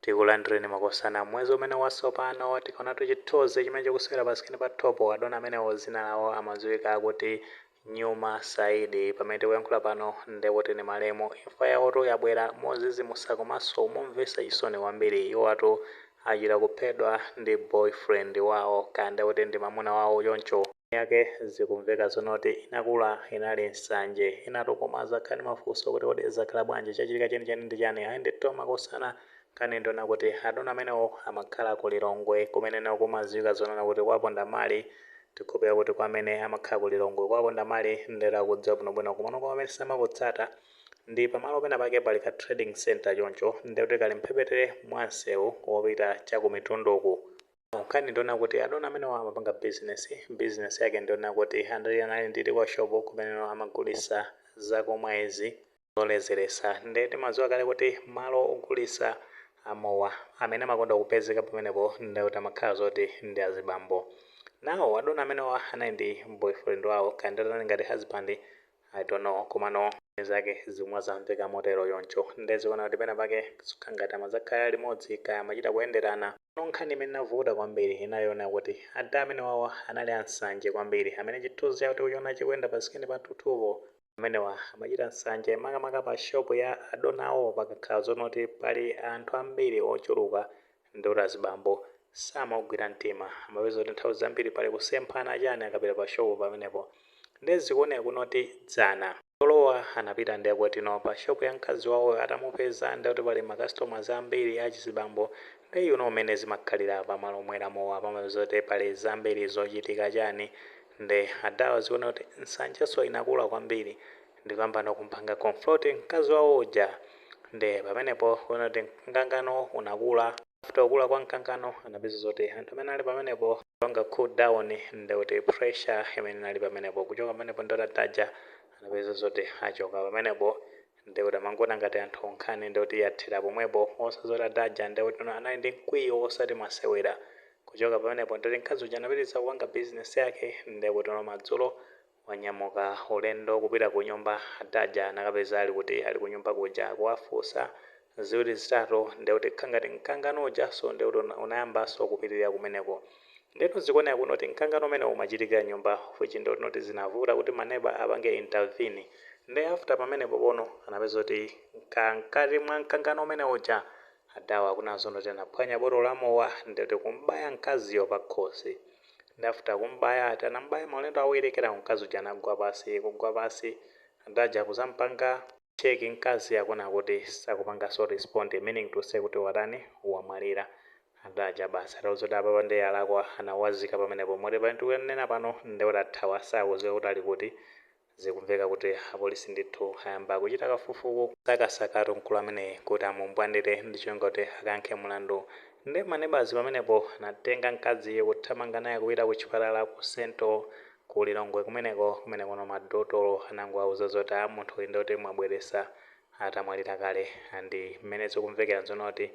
Tikulandireni makosana m'mwezi umene wasopano. Tikaonatu chithunzi chimene chikusewera pa screen pathupo, adona amenewo dzina lawo amadziwika kuti Nyuma Saidi. Pamene tikuyankhula pano ndiye kuti ndi malemu. Imfa yawotu yabwera modzidzimutsa komanso momvetsa chisoni kwambiri. Iwowatu achita kuphedwa ndi boyfriend wawo, kaya ndiye kuti ndi mamuna wawo choncho. yake zikumveka zonena kuti inakula inali nsanje inuyotu mukukhala ndi mafunso kuti kodi zakhala bwanji chachitika chenicheni ndi chani ayi ndithu makosana nkhani ndi yonena kuti adona amenewo amakhala ku lilongwe kumeneko kumadziwika zonena kuti kwaponda mali tikukhulupirira kuti kwa amene amakhala ku lilongwe kwaponda mali ndiye akudziwa bwinobwino komano kwa amene simukutsata ndi pamalo pena pake pali ka trading center choncho ndekuti kali mphepete mwa msewu wopita cha ku mitunduku Nkhani ndiyonena kuti adona amenewa amapanga business, business yake ndiyonena kuti anali ndi timashop kumeneko amagulisa zakumwa izi zoledzeretsa nde timadziwa kale kuti malo ogulisa mowa amene amakonda kupezeka pamenepo ndekuti amakhala zoti ndi azibambo now adona amenewa anali ndi boyfriend wawo kaya nditati anali ngati husband I don't know komano zake zikumveka motero choncho nde zikuoneka kuti pena pake kukhala ngati amakhala limodzi kaya amachita kuyenderana no nkhani imene inavuta kwambiri inali yonena kuti adha amenewawa anali ansanje kwambiri amene chithunzi chawo tikuchiona chikuyenda pa screen pathupo amenewa amachita nsanje makamaka pa shopu ya adonawo pakakhala zonena kuti pali anthu ambiri ochuluka Ndikuti azibambo samagwira mtima. Amapeza kuti nthawi zambiri pali kusemphana chani akapita pa shop pamenepo. Nde zikuoneka kunena kuti dzana iwowa anapita nde kuti pa shop ya mkazi wawoyo atamupeza nde kuti pali ma customers ambiri achizibambo nde you know mmene zimakhalira pa malo omwera mowa pamapezeka kuti pali zambiri zochitika chani nde adhawa zikuoneka kuti nsanjenso inakula kwambiri ndikuyambano kumpanga confront mkazi wawo uja nde pamenepo kuona kuti mkangano unakula, after kukula kwa mkangano anapeza zoti anthu amene anali pamenepo kupanga cool down ndekuti pressure imene inali pamenepo kuchoka pamenepo ndekuti adha aja anapeza zoti achoka pamenepo ndekuti amangoona ngati kuti nkhani ndekuti yathera pomwepo osadziwa zoti adha aja ndekuti anali ndi mkwiyo osati masewera kuchoka pamenepo ndekuti mkazi uja anapitiliza kupanga business yake ndekuti madzulo wanyamuka ulendo kupita kunyumba Adha aja anakapeza ali kuti ali kunyumba kuja kuwafunsa ziwiri zitatu ndiye kuti kukhala ngati mkangano ujanso ndiye kuti una unayambanso kupitilira kumeneko ndeno zikuoneka kuti noti mkangano umenewo umachitikira m'nyumba of which ndiye kuti noti zinavuta kuti ma neba apange intervene ndiye after pamenepo pano anapeza kuti mka mkati mwa mkangano umene uja Adhawa akunena zoti anaphwanya botolo la mowa ndiye kuti kumbaya mkaziyo pakhosi Nde after kumubaya aja anamubaya maulendo awiri kenako mkazi uja anagwa pansi, kugwa pansi anthu aja kuzampanga check mkazi akuona kuti sakupanganso respond meaning to say kuti watani wamwalira. Anthu aja basi atauzidwa kuti apapa nde yalakwa analiyatsa pamenepo moti pamene tikunena pano nde anathawa sakuziwika kuti ali kuti. Zikumveka kuti apolisi ndithu ayamba kuchita kafufuku kusakasakatu mkulu ameneyi kuti amumbwandire ndi cholinga kuti akayankhe mulandu. Nde ma nebazi pamenepo anatenga mkaziyu kuthamanga naye kupita ku chipatala ku Sento ku Lilongwe kumeneko kumenekuno madotolo anangowauza zoti a munthuyi nde kuti mwabweresa atamwalira kale and mmene zikumvekera nzonena kuti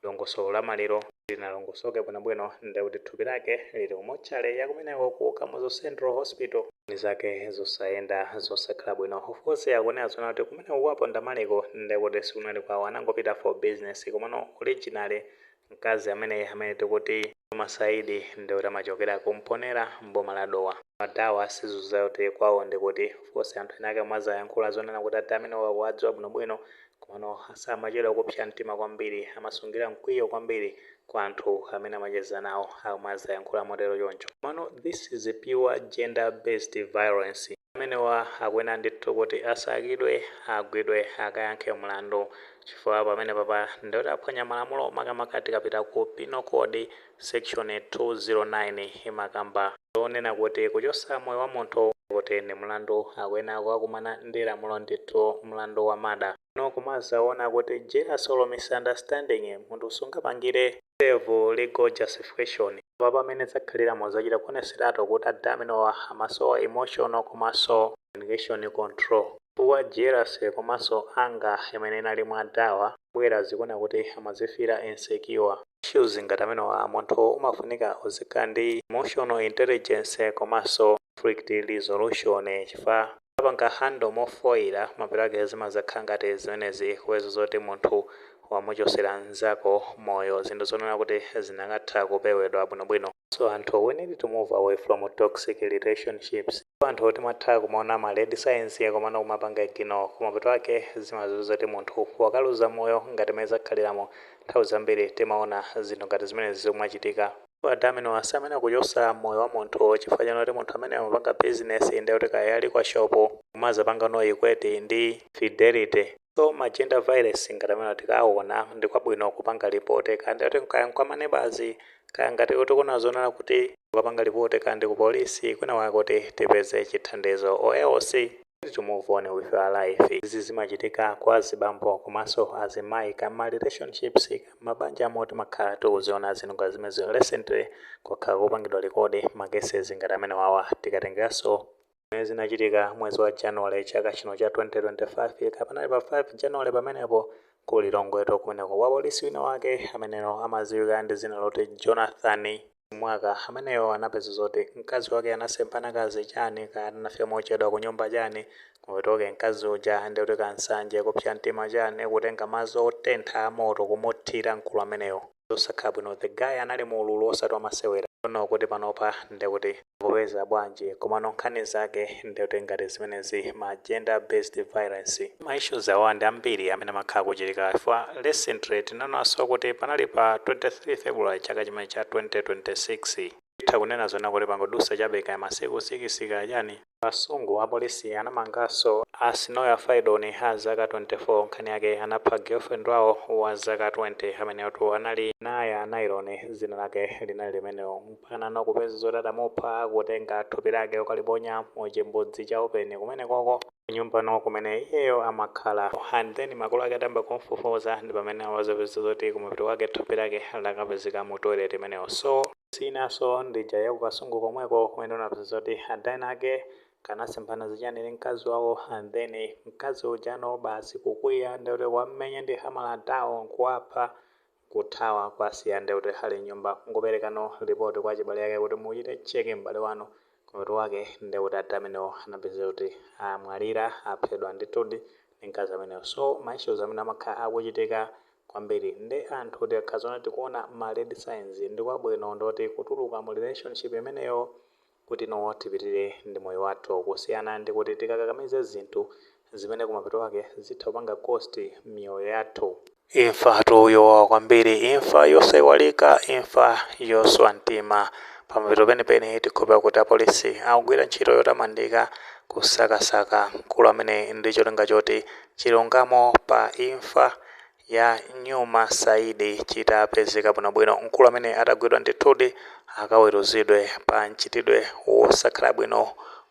Dongosolo la maliro silinalongosoke bwinobwino nde kuti thupi lake lili ku motchale ya kumeneko ku Kamuzu Central Hospital nkhani zake zosayenda zosakhala bwino. Of course akunena zonena kuti kumeneko kwa Pondamaliko nde kuti sikunali kwawo anangopita for business komano originally mkazi ameneyi amene tikuti Juma Saidi nde kuti amachokera ku Mponela m'boma la Dowa. Adawa sizikudziwika kuti kwawo ndi kuti. Of course anthu ena ake amadzayankhula zonena kuti ati amenewo akuwadziwa bwinobwino Komano a samachedwa kupsa mtima kwambiri. Amasungira mkwiyo kwambiri kwa anthu amene amacheza nawo, akumadzayankhula motero choncho. Komano this is a pure gender based violence. Amenewa akuyenera ndithu kuti asakidwe, agwidwe, akayankhe mlandu. Chifukwa pamenepapa ndiye kuti aphwanya malamulo makamaka tikapita ku Penal Code. Section 209 imakamba zonena kuti kuchosa moyo wa munthu nde kuti ndi mlandu akuyenera kukakumana ndi lamulo ndithu mlandu wa murder. Tsono kumazawona kuti jealous or misunderstanding munthu singapange serve legal justification. Apa pamene zakhalira mozachita kuoneseratu kuti adaminowa amasowa emotional komanso communication control chifukwa jealousy komanso anger imene inali mwa adawa mbwera zikuoneka kuti amazifeeler insecure. Issues ngati amenewa munthu umafunika uzikhala ndi emotional intelligence komanso conflict resolution chifukwa ukapanga handle mofoila mapeto ake zimadzakhala ngati zimenezi kupeza zoti munthu wamuchosera nzako moyo zinthu zonena kuti zikanatha kupewedwa bwinobwino. So anthu we need to move away from toxic relationships. Ndipo anthu timatha kumaona ma red signs komano kumapanga ignore koma mapeto ake zimapezeka zoti munthu wakaluza moyo ngati mmene zakhaliramu nthawi zambiri timaona zinthu ngati zimenezi zikumachitika. Adaminowa samayenera kuchosa moyo wa munthu chifukwa chonena kuti munthu ameneyo amapanga business ndekuti kaya ali kwa shop kumazapangano equate ndi infidelity. So ma gender violence ngati amenewa tikawona ndi kwabwino kupanga report kaya ndithu kaya ndi kwa ma neighbors kaya ngati tikuona zonena kuti ukapanga report kaya ndi ku police kwina kwake kuti tipeze chithandizo or else we need to move on with our life. Izi zimachitika kwa azibambo komanso azimayi kaya mma relationships kaya mma banjamo omo timakhala tikuziwona zinthu ngati zimenezo recently kwakhala kukupangidwa record ma cases ngati amenewawa tikatengeranso zimene zinachitika mwezi wa January chaka chino cha 2025 kaya panali pa 5 January pamenepo ku Lilongwetu kumeneko wapolisi wina wake ameneyo amadziwika ndi dzina loti Jonathan Mwaka ameneyo anapeza zoti mkazi wake anasemphana kaya zichani kaya anafika mochedwa ku nyumba chani ndiye ok mkazi uja ndi kuti kansanje kupsa mtima chani kutenga madzi otentha a moto kumuthira mkulu ameneyo zosakhala bwino the guy anali mu ululu osati wamasewera don't know kuti panopa ndikuti akupeza bwanji komano nkhani zake ndikuti ngati zimenezi ma gender based violence ma issues awa ndi ambiri amene amakhala akuchitika chifukwa recently tinamvanso kuti panali pa 23 February chaka chimene cha 2026 Titha kunena zonena kuti pangodutsa chabe kaya masiku sikisi kaya chani ku Kasungu, Apolisi anamanganso a Sinoya Faidon a zaka 24 nkhani yake anapha girlfriend wawo wa zaka 20 ameneyotu anali Naya Nylon dzina lake linali limenelo mpakana kupeza zoti adamupha kutenga thupi lake kukaliponya mu chimbudzi cha open kumenekoko. kunyumba no kumene iyeyo amakhala and then makolo ake atayamba kumfufuza ndipamene anazapeza zoti kumapeto kwake thupi lake lakapezeka mu toilet imeneyo so siyinanso ndi ija ya kukasungu komweko kumene tinapeza zoti ada enaake kaya anasemphana zichani ndi mkazi wawo and then mkazi uja no basi kukwiya ndekuti kuwamenya ndi hamala adao nkuwapha kuthawa kuwasiya nde kuti ali m'nyumba n'kuperekano report kwa achibale ake kuti muchite check m'bale wanu mutu wake nde kuti adha amenewo anapezeka kuti amwalira aphedwa ndithudi ndi mkazi ameneyo so ma issues amene amakha akuchitika kwambiri nde anthu tikakhala zoona tikuona ma red signs ndikwabwino ndithu kutuluka mu relationship imeneyo kuti no tipitire ndi moyo wathu kusiyana ndikuti tikakakamize zinthu zimene kumapeto kwake zitha kupanga cost miyoyo yathu. Imfatu yowawa kwambiri, imfa yosaiwalika, imfa yoswa mtima. Pamapeto penipeni tikhulupira kuti apolisi akugwira ntchito yotamandika kusakasaka mkulu ameneyi ndi cholinga choti chilungamo pa imfa ya Nyuma Saidi chitapezeka bwinobwino. Mkulu ameneyu atagwidwa ndithudi akaweruzidwe pa mchitidwe wosakhala bwino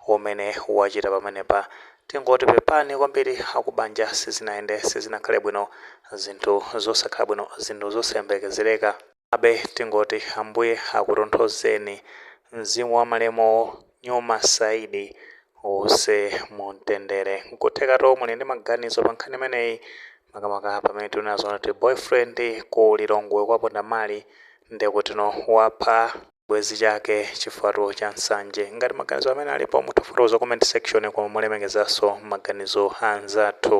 umene wachita pamenepa. Tingoti pepani kwambiri akubanja sizinayende sizinakhale bwino zinthu zosakhala bwino zinthu zosayembekezereka. Komabe tingoti Ambuye akutonthozeni mzimu wa malemuwo Nyoma Saidi uuse mu mtendere. Nkuthekato muli ndi maganizo pa nkhani imeneyi makamaka pamene tikunena zoona kuti boyfriend ku Lilongwe kwa Pondamali ndekutino wapha chibwezi chake chifukwatu cha nsanje. Ngati maganizo amenewo alipo mutha kufotokoza mu comment section koma molemekezaso maganizo a anzathu.